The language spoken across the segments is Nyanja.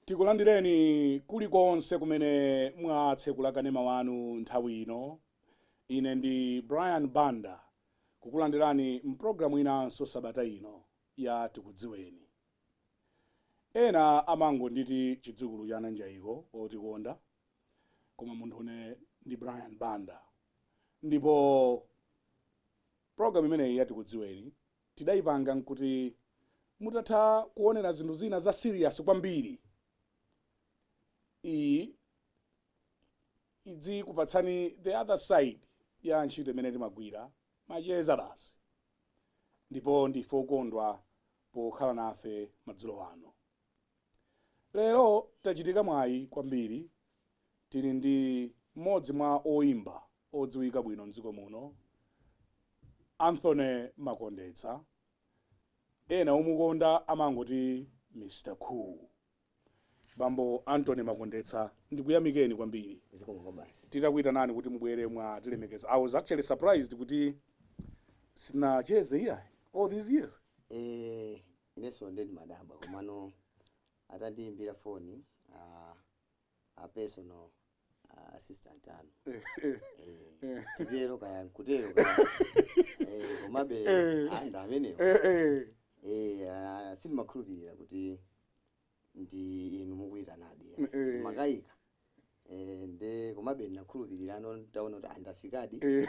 tikulandireni kulikonse kumene mwatsekula kanema wanu nthawi ino ine ndi brian banda kukulandirani mpulogalamu inanso sabata ino ya tikudziweni. Ena amangonditi chidzukulu cha Nanjaiko otikonda koma munthu ine ndi Brian Banda ndipo program imeneyi ya tikudziweni tidayipanga n'kuti mutatha kuonera zinthu zina za serious kwambiri iyi idzikupatsani the other side ya ntchito imene timagwira Macheza basi. Ndipo ndife okondwa pokhala nafe madzulo ano. Lero tachitika mwayi kwambiri tili ndi mmodzi mwa oimba odziwika bwino mdziko muno, Anthony Makondetsa, ena omukonda amangoti Mr Cool. Bambo Anthony Makondetsa, ndikuyamikeni kwambiri. Zikomo kwabasi. Titakuitanani kuti mubwere mwatilemekeza. I was actually surprised kuti sitinacheze iyayi all these years. Eh, ineso nde ndimadabwa komano atandiimbira foni ah, a personal ah, assistant anu Eh, Eh, titero kaya nkutero kaya Eh, komabe Eh. a Banda amenewo eh, eh. Eh, ah, sindimakhulupirira kuti ndi inu mukuyitanadi Eh. mumakayika Eh, nde komabe ndinakhulupirira pano ntaona kuti a Banda afikadi Eh,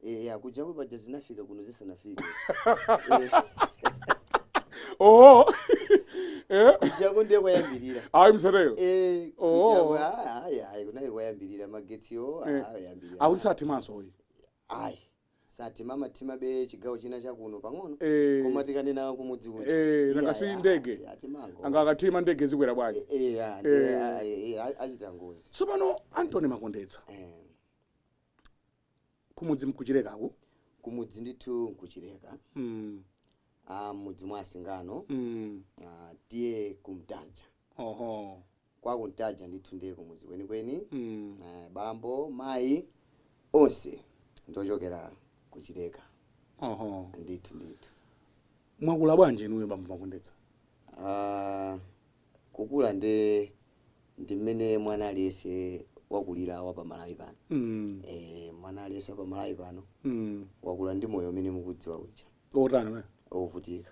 Eya kujaku paja zinafika kuno zisanafike. Oh. Eh? Kujaku ndiye kwayambirira. Ayi msatero. Eh, Oh. kujaku ah, ayi ayi kunali kwayambirira magetsiwo Eh. ah, ayambirira. Akuti sathimanso uyu. Ayi. Sathima. Amathimabe chigawo china chakuno pang'ono. Eh. Koma tikanena kumudzi uja. Eh, Iya, nanga si iya, ndege. iya, timango. Nanga akathima ndege zikwera bwanji. Eh, eh, ah, ndiye, Eh. ah, eh, eh, achita ngozi. Tsopano Anthony Makondetsa. Eh. kumudzi n'ku Chilekaku kumudzi ndithu n'ku Chileka mm. ah, m'mudzi mwa a Singano mm. ah, T/A Kuntaja oho kwa Kuntaja ndithu ndiye kumudzi kwenikweni mm. eh, bambo mayi onse ndi ochokera ku Chileka oho ndithu ndithu mwakula bwanji inuyo bambo Makondetsa ah, kukula nde ndi mmene mwana aliyense wakulira wa pa Malawi pano Mm. eh, mwana aliyense wa pa Malawi pano Mm. wakula ndi moyo umene mukudziwa uja otani wovutika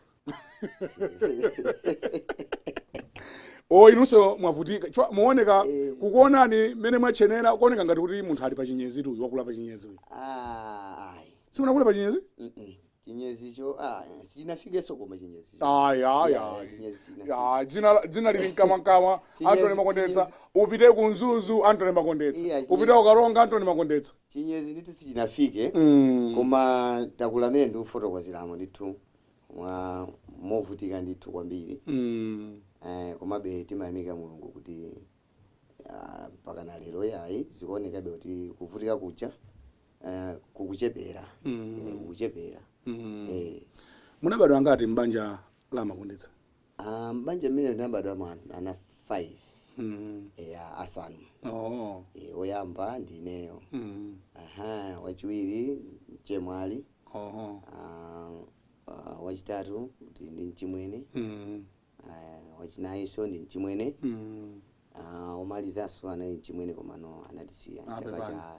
o inunso mwavutika mukuoneka Eh. kukuonani mmene mwatchenera kuoneka ngati kuti munthu ali pa chinyezi uyu wakula pa chinyezi uyu Ah, ayi sitinakule pa chinyezi Mm-mm. chinyezicho ah, sichinafikenso koma chinyezicho ayi ayi Yeah, ayi chinyezi chinafika. Ya, dzina la- dzina lili mkamwamkamwa Chinyezi- antony makondetsa chinyezi. upite ku mzuzu antony makondetsa Iya, chinyezi. upite ku karonga antony makondetsa chinyezi ndithu sichinafike Mm. koma takula mmene ndikufotokozeramo ndithu movutika ndithu kwambiri Mm. eh, komabe timayamika mulungu kuti ah, mpaka na lero yayi zikuonekabe kuti kuvutika kuja eh, kukuchepera Mm. Eh, kukuchepera Mm. Eh, munabadwa angati m'banja la makondetsa ah, m'banja mmene ndinabadwamo ana 5 Mm. eya asanu Oh. Eh, woyamba ndineyo Mm. aha wachiwiri mchemwali Oho. ah, ah, wachitatu ndi ndi mchimwene Mm. ah, wachinayinso ndi mchimwene Mm. Ah, omalizanso anali mchimwene komano anatisiya Ah, chaka pepani. cha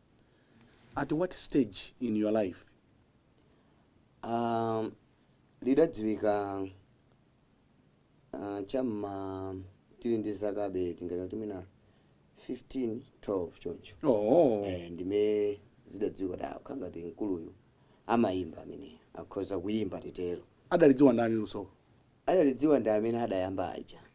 At what stage in your life? Ah, lidadziwika ah, cha m'ma tili ndi zakabe tingati kuti mwina 15 12 choncho Oh. eh, ndi mmene zidadziwika kuti akukhala ngati mkuluyu amayimba ameneyi akhoza kuyimba titero Adalidziwa ndani luso? adalidziwa ndi amene adayamba aja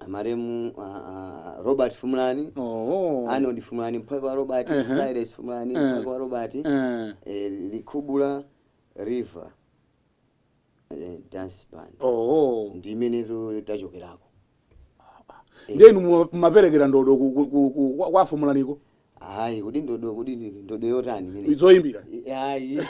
amaremu ah, ah, robert fumulani oh. arnold fumulani mphwake wa robert Ehe. silas fumulani Eh. mphwake wa robert Eh. eh, likubula river eh, dance band Oh. ndi imene tu- tachokerako ndenu mumaperekera ndodo ku- ku- ku- ku- kwa- kwa afumulaniko Ayi, kodi ndodo kodi ndi ndodo yotani imene? Zoyimbira. Ayi.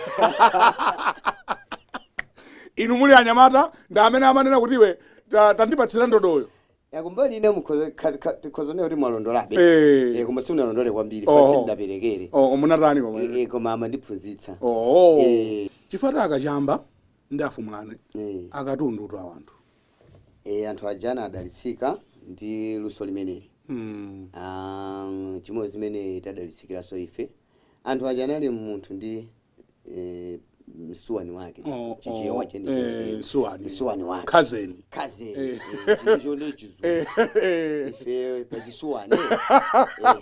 Inu muli anyamata ndi amene amanena kuti iwe ta- tandipatsira ndodoyo. Ya kumbali ina mukhoza kha- kha- tikhoza kunena kuti mwalondolabe. Eh. Eh, koma simunalondole kwambiri, Oh. fasi ndaperekere. Oh, munatani koma. Eh, eh, koma amandiphunzitsa. Oh. Eh. Chifukwa a Kachamba ndi a Fumulani. Eh. Akatundutu awa anthu. e, anthu aja anadalitsika ndi luso limeneli Mm. Ah, chimodzi zimene tadalitsikiranso ife anthu aja anali munthu ndi eh, msuwani wake Oh, Chichewa oh, cheni- eh, cheni- msuwani. msuwani wake Cousin. kazini Eh. ncha chizungu Eh, eh. ife pachisuweni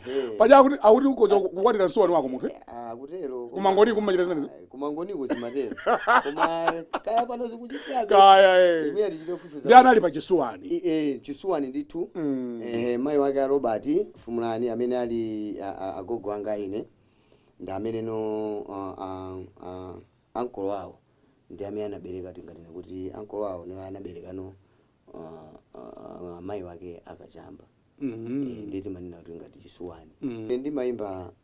ehe. Paja akuti akuti ukhoza kukwatira msuwani wako munthu. eh? Ah, kutero Ku Mangochi kumachita zimenezo? kumangoniko zimatero koma kaya pano zikuchitikabe kaya eh. imene tichitofufuza ndi anali pachisuwani I- eh, chisuwani ndithu Mm. eh, mayi wake a robert fumulani amene ali a- a- agogo anga ine ndi amene no ah, ah, ah, ankolo awo ndi amene anabereka tinganene kuti ankolo awo no anabereka no ah, ah, mayi wake a Kachamba Mhm. Eh, ndiye timanena kuti ngati chisuwani Mm. Eh, ndimayimba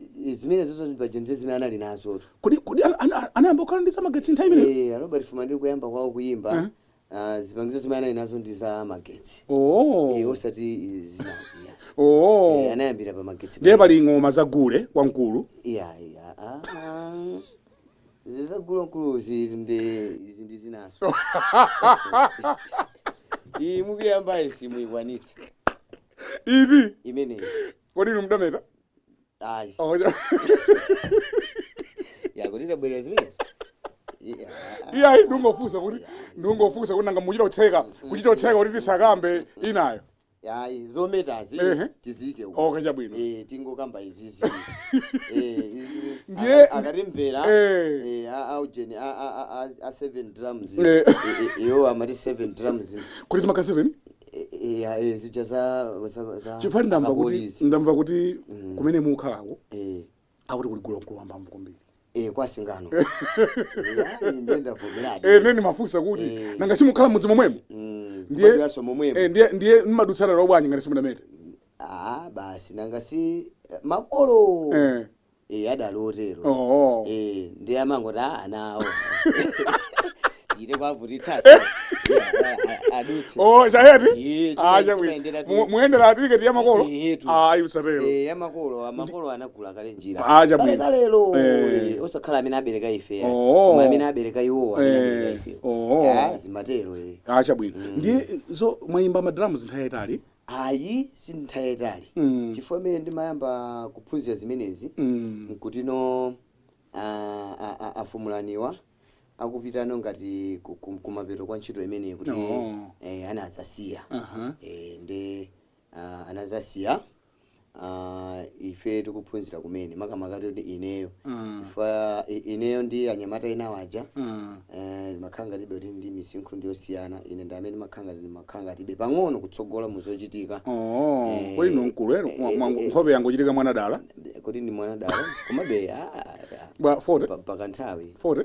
I- i- zimenezo zopanga nje zimene anali nazotu kodi kodi ana- ana- anayamba kukhala ndi zamagetsi nthawi imeneyo Eh, a robert Fumulani kuyamba kwawo kuyimba ah, zipangizo zimene anali nazo ndi za magetsi Eh, oo osati eh, zinazija Eh, oo anayambira pa magetsi ndiye pali ng'oma za gule wamkulu iya iya ah, ah. zi za gule wamkulu zili ndi izi ndi zinanso iyi mukuyamba izi muyikwanitse ivi imeneyi kodi inu mdameta ayi Oh, yeah. yakuti tabwera zimenezo Yeah. iyayi ndikungofunsa kuti ndikungofunsa kuti nanga muchita kutseka kuchita kutseka kuti tisakambe inayo ayi zometazi Ehe. tizike uko okay chabwino Eh, tingokamba izizi Ndiye- akatimvera Eh. eh, a- a ujeni a- a- a- a- a seven drums Eh. Eh, eh, iwo amati seven drums kuti zimakhala 7 E- e- e- zija za za- za chifukwa ndamva kuti akapolisi. ndamva kuti kumene mukhalako Eh, akuti kuli gule wamkulu wamphamvu kwambiri eh, kwa singano Eh, ayi, ndiye ndavomeradi Eh, ndiye ndimafunsa kuti Eh. nanga simukhala mudzi momwemo Mm, ndiye- kubadwiranso momwemo Eh, ndiye ndiye mmadutsana nawo bwanji ngati simudamete Ah, basi nanga si eh, makolo eh Eh, adali otero Oh. Eh, ndiye amangoti ana awo musite kuwavutitsaso adutse Oh, chayati? Eh, Ah, chimene chabwino. timayendera Mu- tu- Muyendera tiketi ya makolo? Eh, tu. Ah, ayi usatero. Eh, ya makolo makolo anagula kale njira Ah, chabwino. kalelo Eh. eh, osakhala amene abereka ife ayi. Oh. koma amene abereka iwo amene Eh, abereka ife oh. Ah, zimatero eh. Ah, chabwino. Ndiye mwayimba madrums nthawi yaitali. Ayi si nthawi yayitali chifukwa mmene ndimayamba kuphunzira zimenezi nkutino a Fumulaniwa akupita no ngati kumapeto kwa ntchito imeneyi kuti anadzasiya nde anadzasiya. uh, ife tikuphunzira kumene makamaka kuti ineyo Mm. chifukwa i- ineyo ndi anyamata ena aja Mm. eh, mmakhala ngatibe kuti ndi misinkhu ndiyosiyana ine ndi amene mmakhala ngati mmakhala ngatibe pang'ono kutsogola muzochitika Oh, Eh, kodi ndinu mkulu ero eh, mwa- mwa- eh, nkhope yangochitika mwana dala kodi ndi mwana dala komabe ah, ah, bwa 40 pa- pakanthawi 40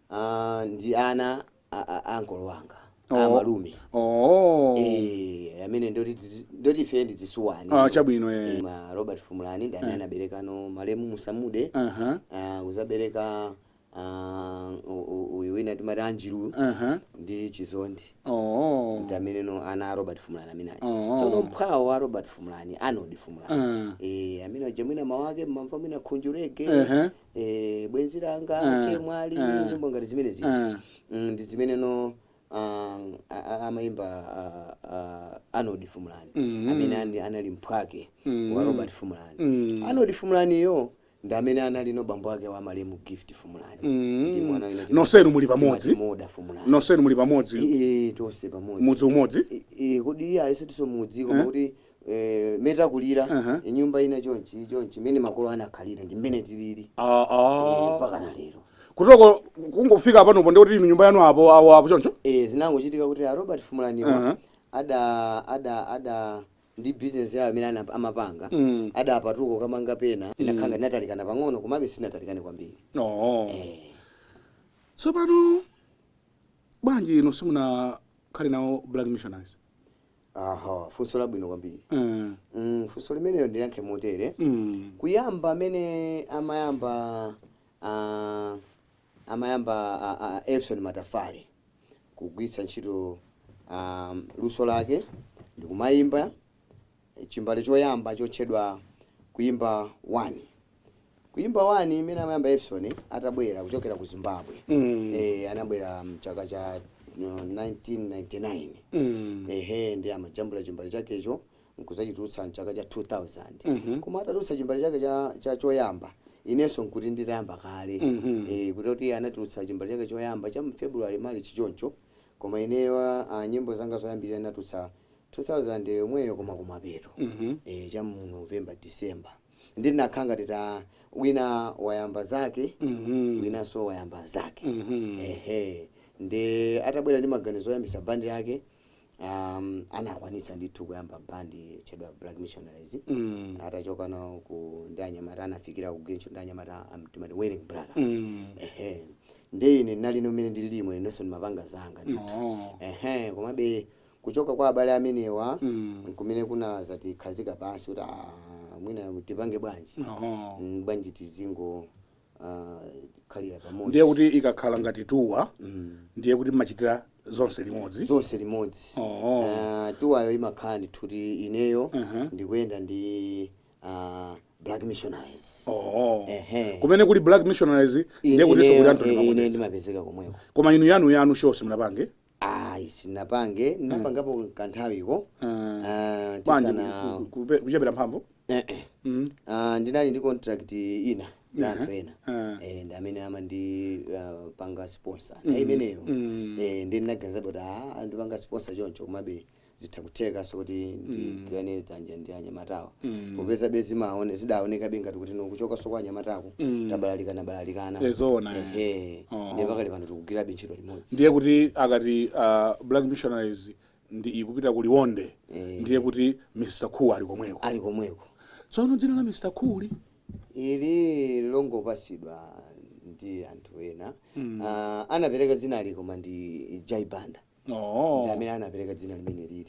Aaa ndi ana a a ankolo wanga a Oh, malume oh. eh amene ndoti tizi- ndoti ife ndi zisuwani Ah, chabwino eh. Eh, ma Robert Fumulani ndi amene anaberekano malemu Musamude Aha. ah, kudzabereka ah, u- u- uyu wina timati Anjiru Aha. ndi Chizondi Oh. ndi ameneno ana a Robert Fumulani amene aja Oh. tsono mphwawo wa Robert Fumulani Arnold Fumulani Ah. eh amene aja mwina mwake mumamva mwina khunjurege Ehe. eh, bwenzi langa Ah, chemwali ah, nyimbo ngati zimene zija ah. mm, ndi zimeneno ah, a- a- amaimba ah, ah, arnold fumulani Mhm. amene ani- anali mphwake Mhm. wa robert fumulani Mm. arnold fumulaniyo ndi amene analino bambo wake wa malemu gift fumulani Mm. Ndi mwana wina timati- Nonsenu muli pamodzi? timati moda fumulani nonsenu muli pamodzi Eh, eh, tonse pamodzi mudzi umodzi I- i- kodi eyeseti siwonso mudzi koma kuti eh, mmene takulira Aha. nyumba ina chonchi chonchi mmene makolo anakhalira ndi mmene tilili Ah, eh, ah. mpaka na lero kuti kungofika panopo ndikuti inu nyumba yanu apo awo apo choncho eh, zinangochitika kuti a robert fumulaniwa Aha. ada ada ada ndi bizinesi yawo imene ana- amapanga Mm. adapatuka nkukamanga pena inakhanga inatalikana pang'ono komabe sinatalikane kwambiri oh. eh. tsopano bwanji inu simunakhale nawo black missionaries aha funso labwino kwambiri Mm. mm, funso limeneyo ndiyankhe motere Mm. kuyamba amene amayamba ah, amayamba ah, ah, Evison Matafale kugwiritsa ntchito ah, luso lake ndikumayimba chimbale choyamba chotchedwa kuimba 1 Kuimba wani imene amayamba Evison atabwera kuchokera ku Zimbabwe mm. eh, anabwera mchaka cha no, 1999 mm. ehe ndi amajambula chimbale chakecho nkuzachitulutsa mchaka cha 2000 mm -hmm. koma atatulutsa chimbale chake cha, cha choyamba inenso nkuti nditayamba kale mm -hmm. eh, kuti kuti anatulutsa chimbale chake choyamba cha mfebruary march chichoncho koma ineyo uh, nyimbo zanga zoyambirira ndinatulutsa 2000 yomweyo koma kumapeto mm -hmm. eh, cha mu november december ndi zinakhala ngati ta wina wayamba zake Mhm. winanso wayamba zake Mhm. ehe ndi atabwera ndi maganizo oyambitsa bandi yake um, anakwanitsa ndithu kuyamba bandi yotchedwa black missionaries Mm. atachoka nawo ku ndi anyamata anafikira ku green ndi anyamata amene timati wailing brothers Mm. ehe ndi ine ndinali no mmene ndilimo inenso ndimapanga zanga ndithu Oh. ehe komabe Kuchoka kwa abale amenewa n'kumene kunadzatikhazika pansi kuti, Aaa, mwina tipange bwanji? Bwanji tizingokhalira pamodzi? Ndiye kuti ikakhala ngati tour, ndiye kuti mumachitira zonse limodzi? Zonse limodzi. Tour yo imakhala ndithu kuti ineyo ndikuyenda ndi a Black Missionaries. Kumene kuli Black Missionaries ndiye kutinso kuli Anthony Makondetsa? Ineyo ndimapezeka komweko. Koma inu yanuyanu show simunapange? ayi sinapange ndinapangapo kanthawiko Ah. Ah, tisana ku- ku- ku- kuchepera mphamvu Eh, eh. Mm. Ah, ndinali ndi contract ina ndi anthu ena Ah. Eh, ndi amene amandipanga sponsor nthawi imeneyo Mm. Eh, nde ndinaganiza kuti ah, andipanga sponsor choncho komabe zitha kuthekanso kuti ndigwirane dzanja ndi anyamatawa Mm. popezabe zimaone zidaonekabe ngati kuti ndi kuchokanso kwa anyamatako Mm. tabalalikana balalikana Eh, zoona, eh. ehe Oh. ndiye pakali pano tikugwirabe ntchito limodzi ndiye kuti akati ah, black missionaries ndiye ikupita ku liwonde Eh. ndiye kuti mr cool ali komweko ali komweko tsono dzina la mr cool ili longopatsidwa ndi anthu ena mm. uh, anapereka dzinali koma ndi jai banda Oh. ndi amene anapereka dzina limeneli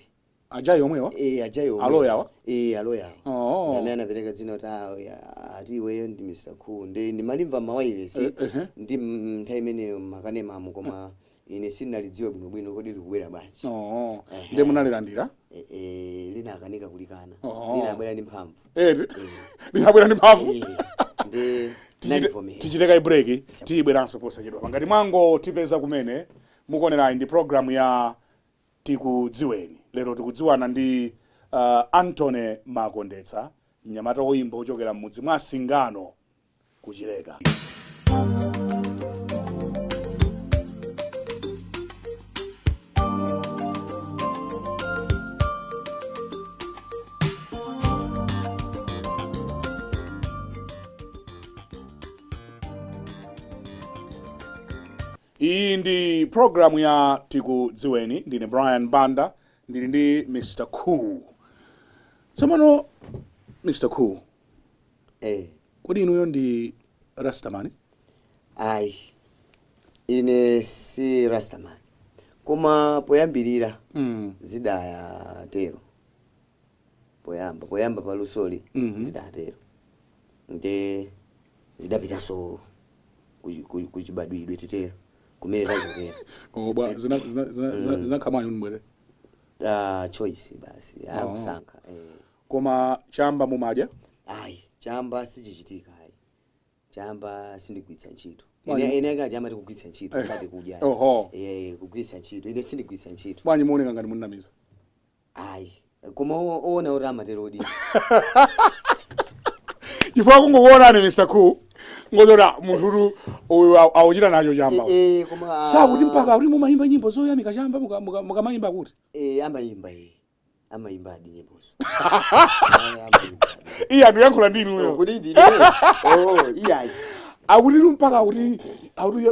a Jai omwewa Eh, a Jai omwewa. Aloya awa? Eh, aloya awa. Oh. Ndi amene anapereka dzina kuti ah, ya, ati iweyo ndi Mr. Cool. Nde ndimalimva m'mawayilesi Eh, ehe. ndi mm, nthawi imeneyo m'makanemamu koma ine sindinalidziwa bwinobwino kodi likubwera bwanji. Oh. Ehe. ndiye munalilandira Eh, eh, ndinakanika kulikana. Oh. Linabwera ndi mphamvu. Eh, linabwera ndi mphamvu Eh, ndi Tichite- ndinalivomera. tichite kaye break tibweranso posachedwapa ngati mwangotipeza kumene Mukuonerayi ndi program ya Tikudziweni. Lero tikudziwana ndi Anthony Makondetsa, mnyamata woyimba wochokera m'mudzi mwa Singano ku Chileka. Iyi ndi program ya tikudziweni ndine Brian Banda ndili ndi Mr Cool. Tsopano Mr Cool, Eh, kodi inuyo ndi Rastaman? ayi ine si rastaman koma poyambirira Mm. zidaayatero poyamba poyamba pa lusoli Mhm. zidatero nde zidapitanso ku- ku- kuchibadwidwe titero kumene tachokera Oh, bwa zina zina zina zina- zinakhamwanyo ndibwere Ah, choice basi Oh. akusankha eh. koma chamba mumadya ayi chamba sichichitika ayi chamba sindigwiritsa ntchito Bwanji. Ine- ine akaja amati kugwiritsa ntchito sati kudya Oho. Eh, kugwiritsa ntchito ine sindigwiritsa ntchito bwanji muoneka ngati muninamiza ayi koma o- oona kuti amaterodi chifukwa kungokuonani mr cool ngonyoza munthutu uyu au- akuchita nacho chamba Eh, eh, koma akuti mpaka kuti mumayimba nyimbo zoyamika chamba muka- muka- mukamayimba kuti Eh, amayimba eh. amayimbadi nyimbozo iye ndikuyankhula ndi inuyo kuti ndine oh iyayi akuti tu mpaka akuti akuti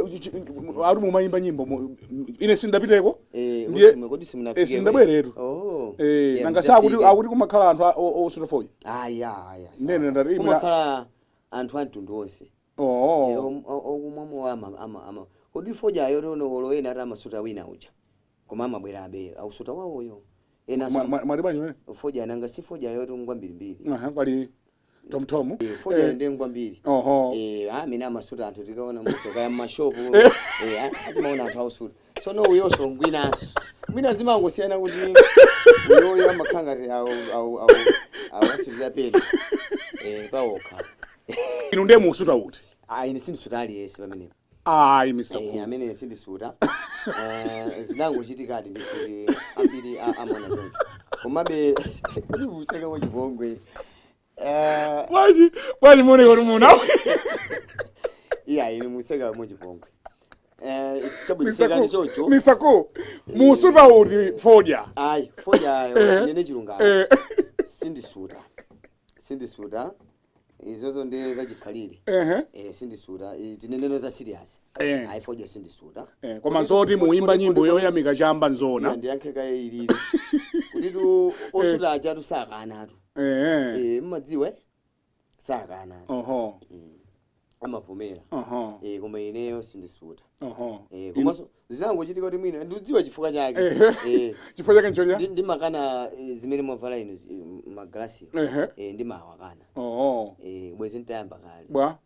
akuti mumayimba nyimbo mu- ine sindapiteko Eh, Ndiye- kodi- kodi simunafike Eh, sindabweretu. kodi? Oh. Eh, Yeah, nanga mudafike. sakuti akuti kumakhala anthu a- o- osuta fodya Aya, aya. sawa. Ndiye ndati imwe- Kumakhala anthu a mtundu onse. oo Eh, om- o- okumwamo ama- ama- ama- kodi fodya yotani olo ena ati amasuta wina uja koma amabwerabe ausuta wawoyo ena Mwa- mwa- mwati bwanji mene fodya nanga si fodya yoto ngwambirimbiri Aha, pali Tom Tom. Eh, fodya eh, ndi ngwambiri. Oho. Eh, ah, amene amasuta anthu tikaona muso kaya mmashopu. Eh, eh ah, timaona anthu ausuta. Tsono uyonso ngwinanso. Mwina zimangosiyana kuti uyoyo amakhala ati awo awo awo akasutira pena. Eh, pawokha. Inu ndiye musuta uti? Ah, ine sindisuta aliyese pamenepo. ayi mr Eh, Cool. amene sindisuta Eh, zinangochitikadi ndikuti ambiri a- amaona choncho komabe useka wachipongwe Eh, bwanji bwanji muoneka kuti muna iyayi ndiye museka wachipongwe Eh, chabwino sekani chocho mr Cool, musuta uti fodya ayi fodya ndinene chilungamo Eh. sindisuta sindisuta izozo ndi zachikhalire Ehe. eh, sindisuta Eh, tinenero za serious Eh. ayi fodya sindisuta Eh, koma Kodi zoti tu- muimba kodi- nyimbo kodi- yoyamika chamba Iya, nzona ndiyankhe kaye ilili kuti osuta achatu sakanatu Eh, eh. Eh, mudziwe sakanatu oho amavomera Aha. eh, koma ineyo sindisuta Aha. eh, Inu- komanso zinangochitika kuti mwina ndidziwa chifukwa chake Ehe. eh, chifukwa chake nchani ndi- ndimakana eh, zimene mwavala inu zi- eh, magalasi Ehe. eh, ndimawakana Oho. eh, bwenzi ntayamba kale bwa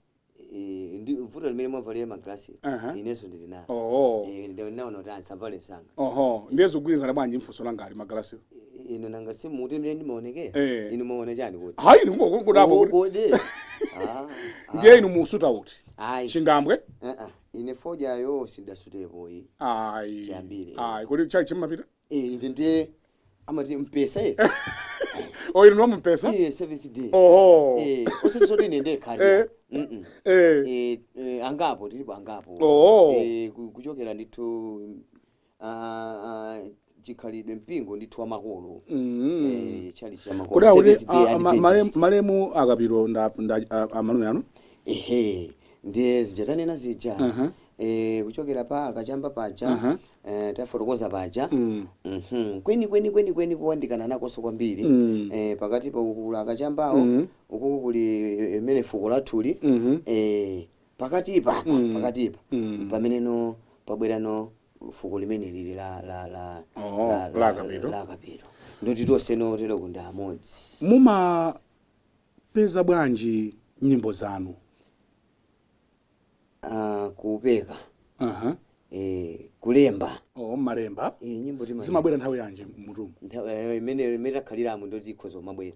Eh, ndi mvuto limene mwavalira magalasi Aha. inenso ndili nalo Oho. Eh, ndiye ndinaona kuti ndisavale msanga Oho. ndiye zikugwirizana bwanji mfunso langa ali magalasi I- inu nanga simuti mmene ndimaonekera Eh. inu maona chani kuti hayi inu kungokungotapo Oh, kuti kodi Ah, ah. ndiye inu mumasuta uti ayi chingambwe Ah, ah. ine fodyayo sidasutepo iyi ayi Chiyambire. ayi kodi chalichi mapita Eh, ine ndiye amati mpesa ye o inu ndi a mpesa iye seventh day oho Eh, osati zoti ine ndiye Eh. khali Mm-mm. eh Eh, eh, angapo tilipo angapo Oh. Eh, ku- kuchokera ndithu ah, ah, chikhalidwe mpingo ndithu wa makolo Mm. eh, chalichi ya makolo kodi akuti Seventh Day a- a- ma- Adventist. malemu- malemu a Kapiro nda- nda- a- a- malume anu ehe ndiye zija tanena zija Aha. eh, kuchokera pa a Kachamba paja Aha. eh, tafotokoza paja Mm. Mhm. kwenikweni kwenikweni kuyandikana nawonso kwambiri Mm. eh, pakati pa akulu a Kachambawo Mhm. ukuku kuli eh, imene fuko lathuli Mhm. eh, pakatipa apa Mm. pakatipa Mm. pameneno pabwerano fuko limene lili la la la Oh, la- la la- a Kapiro. la a Kapiro. ndoti tonse no tero kundi amodzi mumapeza bwanji nyimbo zanu Ah, kupeka Aha. eh, kulemba oh, malemba eh, nyimbo timalemba. zimabwera nthawi yanji m'mutumu Nthawi- eh, imene imene takhaliramo ndoti ikhozo kumabwera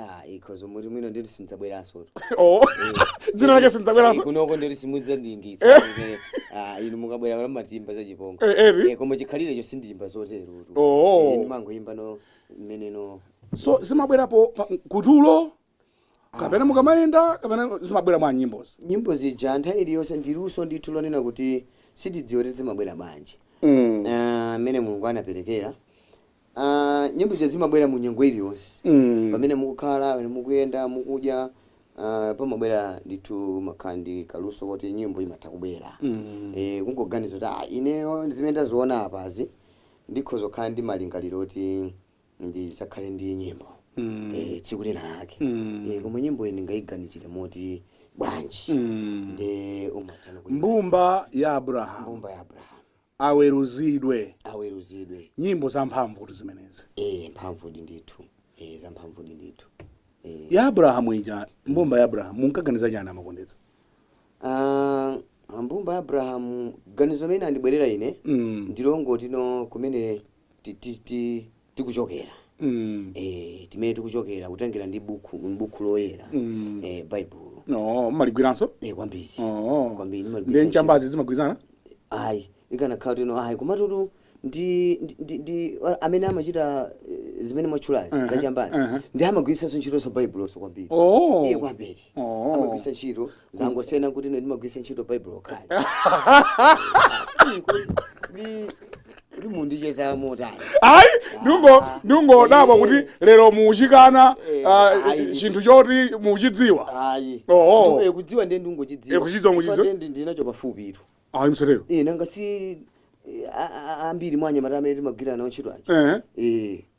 Ah, ikhozo muti mwina ndiri sindidzabweransotu. oh Eh, dzina lake Eh, sindidzabweranso kunoko ndiri simudzandingitsa kuti, ah, inu mukabwera kana matimba zachipongwe Eh, eri? Eh, koma chikhalire cho sindiyimba zoterotu. Oh. Eh, ndimangoyimba no mmene no so zimabwerapo pa- kutulo kapena mukamayenda kapena zimabwera mwa nyimbozi nyimbo zija nthawi iliyonse ndi luso ndithu lonena kuti sitidziwa kuti zimabwera bwanji mm. Ah, mmene mulungu anaperekera Ah, nyimbo zija zimabwera mu nyengo iliyonse Mm. pamene mukukhala pamene mukuyenda mukudya ah, pamabwera ndithu mumakhala ndi kaluso koti nyimbo imatha kubwera Mm. Eh, kungoganiza kuti ah, ineyo zimene ndaziona apazi ndikhoza kukhala ndi malingaliro oti ndidzakhale ndi nyimbo Mm. Eh, tsiku lina lake Mm. Eh, koma nyimbo iyi ndingayiganizire moti bwanji Mm. ndi umathana mbumba ya abrahamu mbumba ya abrahamu aweruzidwe. aweruzidwe. Nyimbo zamphamvutu zimenezi. Eee mphamvudi ndithu. Eee zamphamvudi ndithu. Eee. Ya Abrahamu ija, mbumba ya Abrahamu, munkaganiza chani a Makondetsa? Ah, mbumba ya Abrahamu ganizo limene linandibwerera ine Mm. ndi longoti no kumene ti- ti- ti- tikuchokera Mm. eh, kumene tikuchokera kutengera ndi buku m'buku loyera Mm. eh, baibulo No, mumaligwiranso? eh, kwambiri Oh. Kwambiri, nimagwiritsa Ndi chambazi zimagwirizana? ayi ikanakhala kuti no ayi komatutu ndi, ndi, ndi, ndi or- amene amachita eh, zimene mwatchulazi Aha, zachambazi aha. ndi amagwiritsanso ntchitonso baibulonso kwambiri Oh. Eh, kwambiri Oh. amagwiritsa ntchito zangosiyana kuti ine ndimagwiritsa ntchito baibulo kale kodi mundicheza motani ayi ndungo ndungodabwa kuti lero muuchikana Eh, ah, ayi. chinthu choti muuchidziwa ayi Oh. Ndipo, eh, kudziwa ndiye ndingochidziwa Eh, kuchidziwa ngochidziwa? Chifukwa ndiye ndinacho pafupi itu ayi msereyo Eh, nanga si eh, a- a- a- ambiri mwa anyamata amene timagwirana nawo ntchito aja ehe Eh,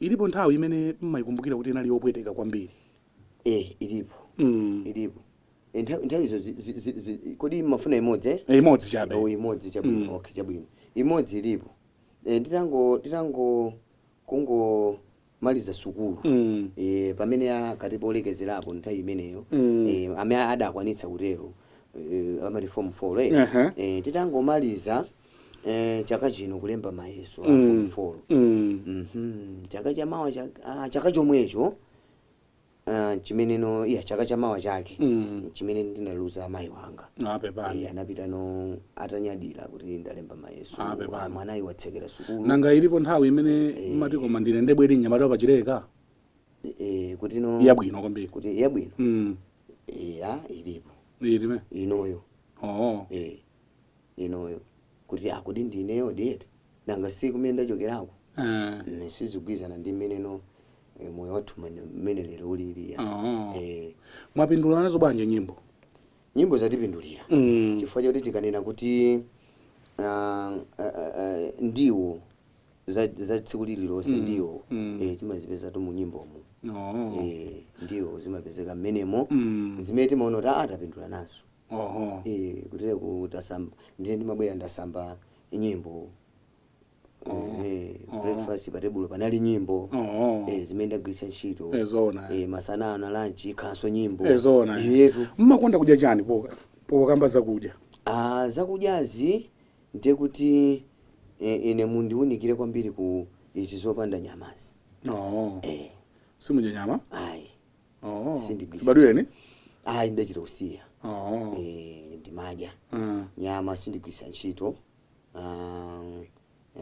Ilipo nthawi imene m'maikumbukira kuti inali yopweteka kwambiri? Eh, ilipo. Mm. Ilipo. Eh, nthawi nthawizo zi- zi- zi- zi- kodi mmafuna imodzi eh? Eh, imodzi chabe. Oh, imodzi chabwino. Mm. Okay, chabwino. Imodzi ilipo. Eh, nditango nditangomaliza sukulu. Mm. Eh, pamene ankati polekezerapo nthawi imeneyo Mm. eh, amene adakwanitsa kutero eh, amati form 4 eh. Aha. Eh, titangomaliza Eh, chaka chino kulemba mayeso a form 4 mm. Mhm. chaka chamawa chak- ah, chaka chomwecho ah, chimenecho iyayi chaka chamawa chake Mm. chimene ndinaluza amayi wanga nape Eh, pano anapitano atanyadira kuti ndalemba mayeso Ah, pepani. Ah, mwanayi watsekera sukulu nanga ilipo nthawi imene mmati koma ndine ndebwere nyamata pachileka Eh, kuti no yabwino kwambiri kuti yabwino Mm. ya ilipo imeneyo oo eh inoyo kuti ah kodi ndi ineyodi eti nanga si kumene ndachokerako Ah, Mm, sizigwirizana ndi mmeneno eh, moyo wathu mmene- mmene lero ulili ya. Oh. Eh, mwapindula nazo bwanji nyimbo nyimbo zatipindulira Mm. chifukwa choti tikanena kuti ah, ah, ah, ndiwo za za tsiku lililonse ndiwo Mm. eh, timazipezatu munyimbomo Oh. Eh, ndiwo zimapezeka mmenemo Mm. zimene timaona kuti ah, tapindula nazo Oho. Eh, kuti ine kusamba ndiye mmabwera ndasamba nyimbo Eh, breakfast pa tebulo panali nyimbo Oho. Eh, zimene ndagwiritsa ntchito Eh, zoona. Eh, masana ano lunch ikhalanso nyimbo Eh, zoona. iyetu Mmakonda kudya chani po pokambwa zakudya. Ah, zakudyazi ndiye kuti eh, ine mundiunikire kwambiri ku izi zopanda nyamazi Oho. eh, Simudya nyama? ayi Oh. Sindigwiritsa Chibadwireni? ayi ndidachita kusiya Oh. Eh, ndimadya Mm. nyama sindigwiritsa ntchito um,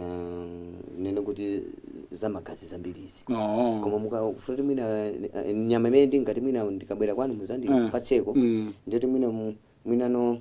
um, ndinene kuti zamagazi zambirizi Oh. koma mukafuna kuti mwina eh, nyama imene ndingati mwina ndikabwera kwanu muzandipatseko Mm. ndiyoti mwina mu- mwinano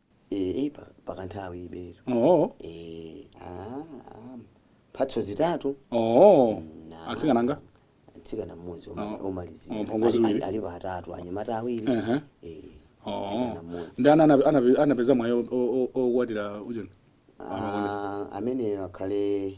ee pa- pakanthawi ibetu oo ee ah, ah, mphatso zitatu oo na- atsikana angati mtsikana mmodzi oma- Oh. omalizira Oh, mphongo Ali- ziwiri. ali- alipo atatu anyamata awiri Ehe. ee oo mtsikana mmodzi ndi ana anape- anape- anapeza mwayi o- o- o- okwatira ujeni Ah, ameneyo akhale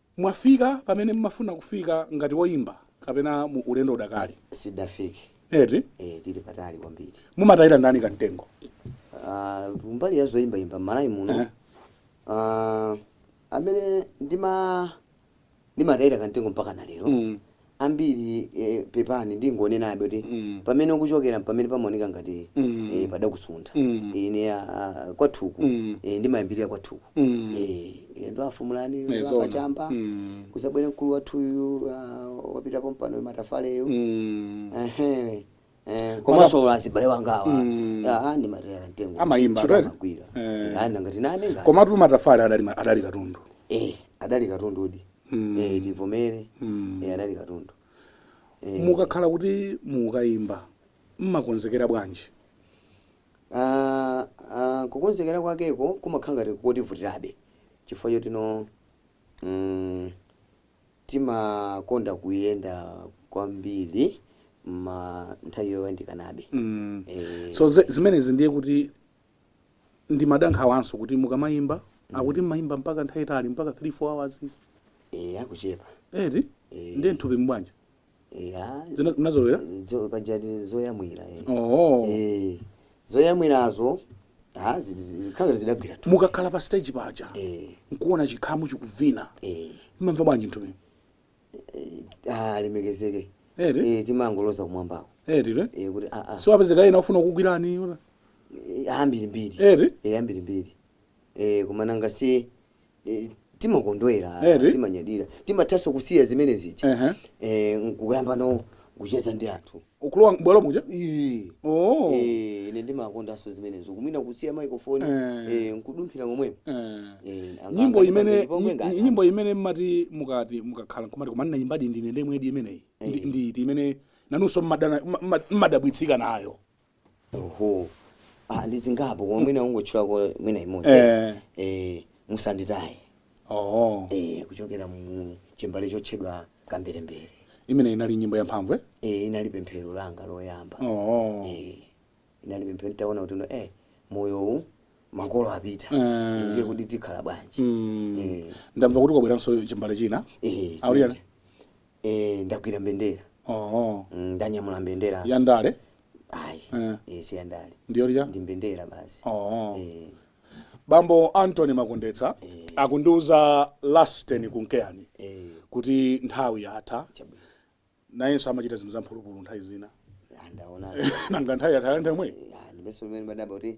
Mwafika pamene mumafuna kufika ngati woyimba kapena mu ulendo udakali? Sitidafike Eti? eh, tili patali kwambiri. Mumatayira ndani kamtengo? Ah, kumbali ya zoyimbayimba m'Malawi muno Eh. ah, amene ndima ndimatayira kamtengo mpaka na lero Mm. ambiri eh, pepani ndingonenabe kuti Mm. pamene ukuchokera mpamene pamaoneka ngati Mm. eh, padakusuntha Mm. ine ah, ah, kwathuku Mm. eh, ndimayambirira kwathuku Mm. eh, ine ndo a Fumulani Eh, ndo zoona. a Kachamba Mm. kuzabwera mkulu wathuyu ah, wapita pompano Matafaleyo Mm. Ehe. Eh, komanso olo azibale wanga awa Mm. Ah, ndimatayira kamtengo Amayimba, Ntchito right? amagwira Eh. Eh, anda ngati nane ngati komatu Matafale adali ma- adali katundu eh adali katundudi Mm. eh tivomere Mm. eh adali katundu eh mukakhala kuti mukayimba mmakonzekera bwanji ah ah, kukonzekera kwakeko kumakhala ngati kotivutirabe chifukwa chotino mm Timakonda kuyenda kwambiri ma nthawi yoyandikanabe. Eeh. So zimenezi ndiye kuti ndimada nkhawanso kuti mukamayimba akuti mmayimba mpaka nthawi yaitali mpaka 3 4 hours. Eeh akuchepa. Eti? Eeh. Ndiye mthupimu bwanji? ya Zina- zinazolowera zo- pajatu zoyamwira eh. oho Eh, zoyamwirazo ah, zi- zi- zikhangati zidagwiratu mukakhala pa stage paja Eh, nkuona chikhamu chikuvina eh. mmamva bwanji mthupi Ah, alemekezeke Eti? Eh, timangoloza kumwambako eti Eh, kuti ah, ah. siwapezeka ena ofuna kukugwirani Eh, ambirimbiri Eti? Eh, ambirimbiri Eh, koma nanga si eh, timakondwera Eti? timanyadira timathanso kusiya zimene zija Ehe. eh, nkuyambano kucheza ndi anthu kulowa m'bwalo muja Ii. oh Eh, ine ndimakondanso zimenezo kumwina kusiya microphone Eh. eh, nkudumphira momwemo Eh. Eh, anga- nyimbo anga- imene anga- pomwe nyi- ngati- nyimbo imene mmati mukati mukakhala nkumati koma ndinayimbadi ndine ndemwedi imeneyi Ndi- ndi iti imene nanunso mmadana- mma- mma- mmadabwitsika nayo oho ah, ndi zingapo koma mwina ungotchulako mwina imodzi Eh. eh, Musanditaye oh eh, kuchokera mu chimbale chotchedwa Kamberembere imene inali nyimbo yamphamvu eh? eh, inali pemphero langa loyamba oh eh, inali pemphero nditaona kuti no, eh, moyowu makolo apita Eh. ndiye kuti tikhala bwanji Mm. eh, ndamva kuti kwabweranso chimbale china eh, Auli ali- Eh, ndagwira mbendera oho Mm, ndanyamula mbendera ya ndale ayi Eh. eh, si yandale ndiyo lija ndi mbendera basi oho Eh, bambo Anthony Makondetsa Eh. akundiuza Lasten Kunkeyani eh, kuti nthawi yatha chabwino. nayenso amachita zinthu zamphulupulu nthawi zina Ah, ndaona nanga nthawi yatha nthawi yomweyi Ah, ndimeso limene ndimadabwa kuti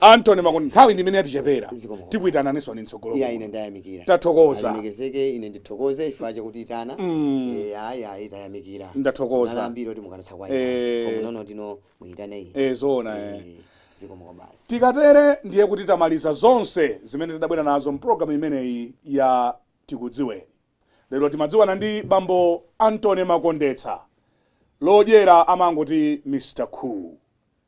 Anthony Makondetsa, nthawi ndi imene yatichepera, Zikomo kwambiri. tikuitananinso m'tsogolo Iya kuno. ine ndayamikira. Tathokoza. Alemekezeke ine ndithokoze chifukwa chondiitana. Mm. Eh ayi ayi tayamikira. Ndathokoza. Analipo ambiri oti mukanatha kuwa Eh. ine. Koma nono tino muitane iyi. Eh, zoona, eh. Zikomo kwa basi. tikatere ndiye kuti tamaliza zonse zimene tidabwera nazo mpulogalamu imeneyi ya tikudziweni lero timadziwana ndi bambo Anthony makondetsa lodyera amangoti Mr Cool